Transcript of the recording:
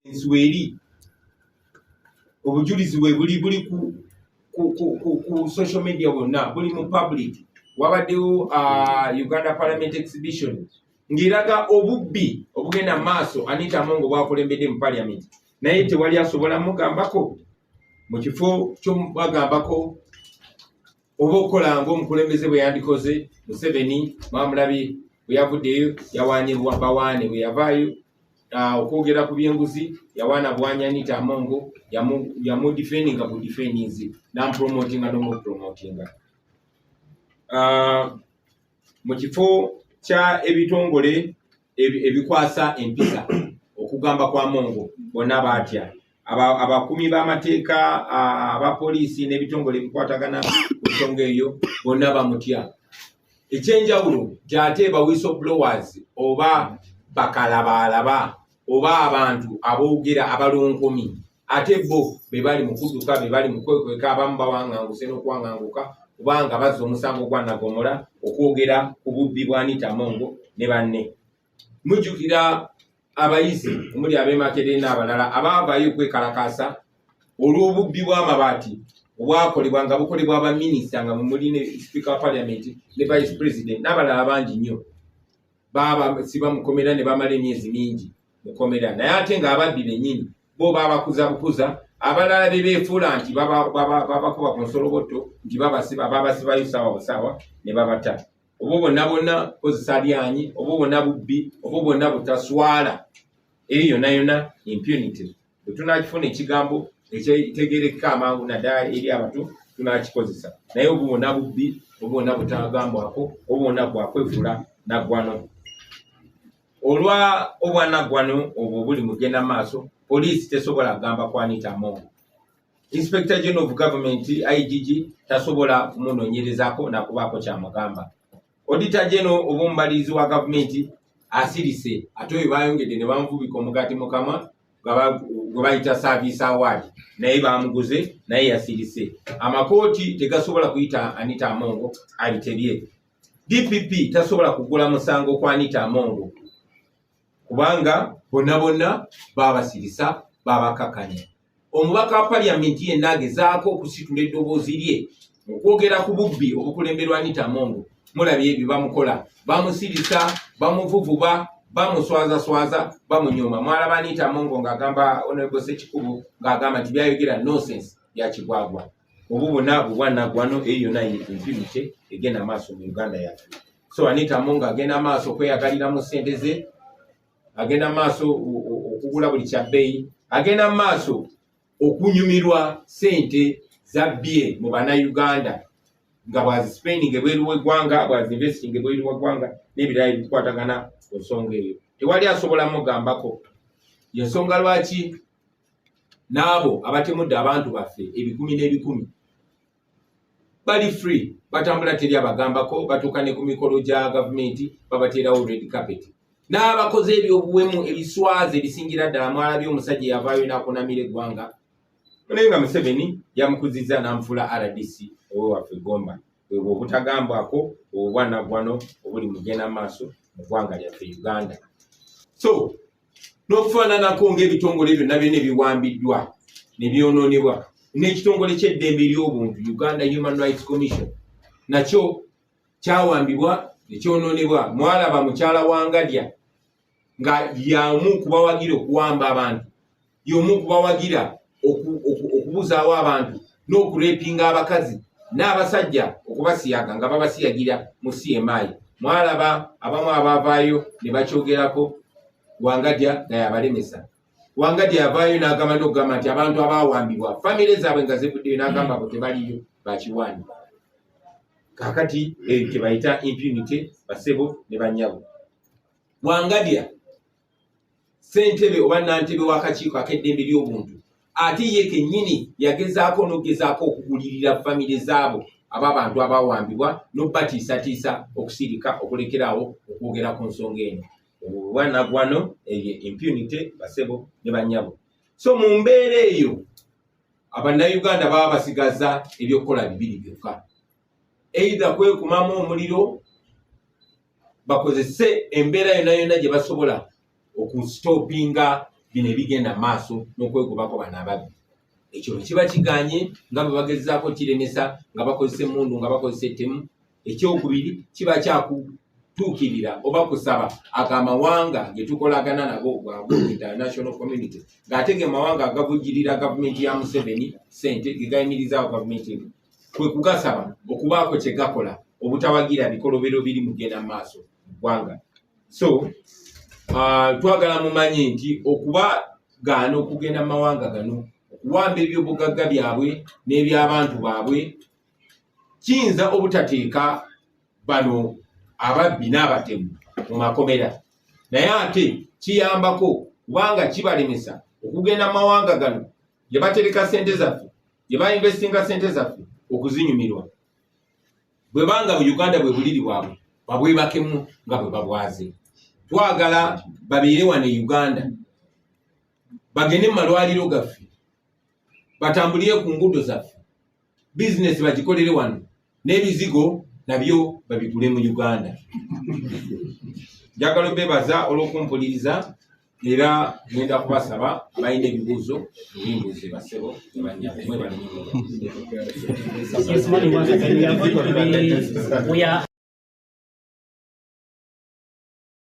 ensi weeri obujulizi bwe buli buli ku ku social media bonna buli mu public wabaddewo uh, uganda parliament exhibition ng'eraga obubbi obugenda mu maaso anita mongo bwakulembedde mu parliament naye tewali asobola mugambako mu kifo kyomubagambako oba okukola ngaomukulembeze bwe yandikoze museveni mwamulabi bwe yavuddeyo yawaanye bawaane bwe yavaayo ah, okwogera ku byenguzi yawaana bwanya anita amongo yamudifendinga ku difendinzi namupromotinga nomupromotinga ah, mu kifo kya ebitongole ebikwasa empisa okugamba kwa mongo bonna baatya abakumi b'amateeka aba poliisi n'ebitongole ebikwatagana ku nsonga eyo bonna bamutya ekyenjawulo gyate bawiso blowers oba bakalabaalaba oba abantu aboogera abalonkumi ate bo be bali mu kudduka be bali mu kwekweka abamu bawanganguse n'okuwanganguka kubanga bazza omusango gwa nagomola okwogera ku bubbi bwa anita mongo ne banne mujjukira abayizi omuli ab'emakerere n'abalala abaavaayo okwekalakaasa olw'obubbi bw'amabaati obwakolebwa nga bukolebwa abaminisita nga mumuli ne sipiika wa paliamenti ne vice president n'abalala bangi nnyo baaba sibamukomera ne bamala emyezi mingi mukomera naye ate nga ababbi benyini bo babakuza bukuza abalala bebefuula nti babakuba ku nsolobotto nti babasiba babasibayo saawa busaawa ne babata obwo bonna bonna kozesa lyanyi obwo bonna bubbi obwo bonna butaswala eyo yona yona impunity bwetunakifuna ekigambo ekitegerekeka amangu naddala eri abatu tunakikozesa naye obwo bonna bubbi obwo bonna butagambwako obwo bonna bwakwefula naggwano Olwa obwanaggwano obwo buli mugenda maaso, poliisi tesobola kugamba ku Anita Among. Inspector General of Government, IGG, tasobola kumunoonyerezaako na kubaako ky'amugamba. Auditor General oba omubalirizi wa gavumenti asirise ate oyo baayongedde ne bamuvubika omugaati mu kamwa gwe bayita service award naye bamuguze naye yasirise amakooti tegasobola kuyita anita amongo abitebye dpp tasobola kugula musango kwa anita amongo kubanga bonna bonna babasirisa babakakanya omubaka wa paliamenti yenna agezaako okusitula eddoboozi lye mu kwogera ku bubbi obukulemberwa anita amongo mulabye ebyo bamukola bamusirisa bamuvuvuba bamuswazaswaza bamunyoma mwalaba anita amongo ng'agamba onobosekikubo ng'agamba nti byayogera nonsense byakigwagwa obwo bwonna bwe bwanaggwano eyo yonna ye infinity egenda maaso mu uganda yaffe so anita munga agenda maaso okweyagaliramu ssente ze agenda maaso o- o- okugula buli kya bbeeyi agenda maaso okunyumirwa ssente za bye mu bannayuganda nga bwazisipendinga ebweru w'eggwanga bwazinvestinga ebweru w'eggwanga n'ebirala ebikwatagana ku nsonga eyo tewali asobola mugambako yensonga lwaki n'abo abatemudde abantu baffe ebikumi n'ebikumi bali free batambula teri abagambako batuuka ne ku mikolo gya gavumenti babateerawo red carpet n'abakoze ebyobuwemu ebiswaza ebisingira ddala mwalabye omusajja eyavaayo nakunamira eggwanga naye nga museveni yamukuzizza n'amufula rdc owewaffe gomba ebwo obutagambwako obwanagwano obuli mugenda maaso mu ggwanga lyaffe uganda so n'okufaananako ng'ebitongole byonna byona ebiwambiddwa ne byonoonebwa n'ekitongole ky'eddembe ery'obuntu uganda human rights commission nakyo kyawambibwa nekyonoonebwa mwalaba mukyala wa ngadya nga yamu kubawagira okuwamba abantu y'omu okubawagira okubuzaawo abantu n'okurepinga abakazi n'abasajja okubasiyaga nga babasiyagira mu cmi mwalaba abamu abavaayo ne bakyogerako wangadya naye abalemesa wangadya yavaayo n'agamba n'okugamba nti abantu abawambibwa famire zaabwe nga zivuddeyo n'agamba bo tebaliyo bakiwani kakati ekyo eh, bayita impunity basebo ne banyabo wangadya ssentebe oba nantebe w'akakiiko ak'eddembe ly'obuntu ate ye kennyini yagezaako n'okugezaako okugulirira famire zaabo aba bantu abawambibwa n'obubatiisatiisa okusirika okulekeraawo okwogera ku nsonga eno obwanagwano eyo impunity basebo ne banyabo so mu mbeera eyo abannayuganda baba basigaza ebyokukola bibiri byokka eidha kwekumamu omuliro bakozese embeera yona yona gye basobola okusitopinga bino ebigenda maaso n'okwegobako bano ababbi ekyo bwekiba kiganye nga bwe bagezaako kiremesa nga bakozesa emundu nga bakozesa ettemu ekyokubiri kiba kyakutuukirira oba kusaba ago amawanga ge tukolagana nago gwago international community ng'ate ge mawanga agavujirira gavumenti ya museveni sente ge gayimirizaawo gavumenti eno kwe kugasaba okubaako kye gakola obutawagira bikolobero biri mugenda mu maaso ggwanga so uh, twagala mumanyi nti okuba gaana okugenda mu mawanga gano okuwamba ebyobugagga byabwe n'ebyabantu baabwe kiyinza obutateeka bano ababbi n'abatemu mu makomera naye ate kiyambako kubanga kibalemesa okugenda mu mawanga gano gye batereka ssente zaffe gye bainvestinga ssente zaffe okuzinyumirwa bwe banga bu uganda bwe buliri bwabwe babwebakemu nga bwe babwaze twagala babeere wano e uganda bagende mu malwaliro gaffe batambulire ku nguudo zaffe bizinesi bagikolere wano n'ebizigo nabyo babigule mu uganda njagala obebaza olw'okumpuliriza era ngenda kubasaba abalina ebibuuzo ebimbuuze basebo ebanyamwe balimu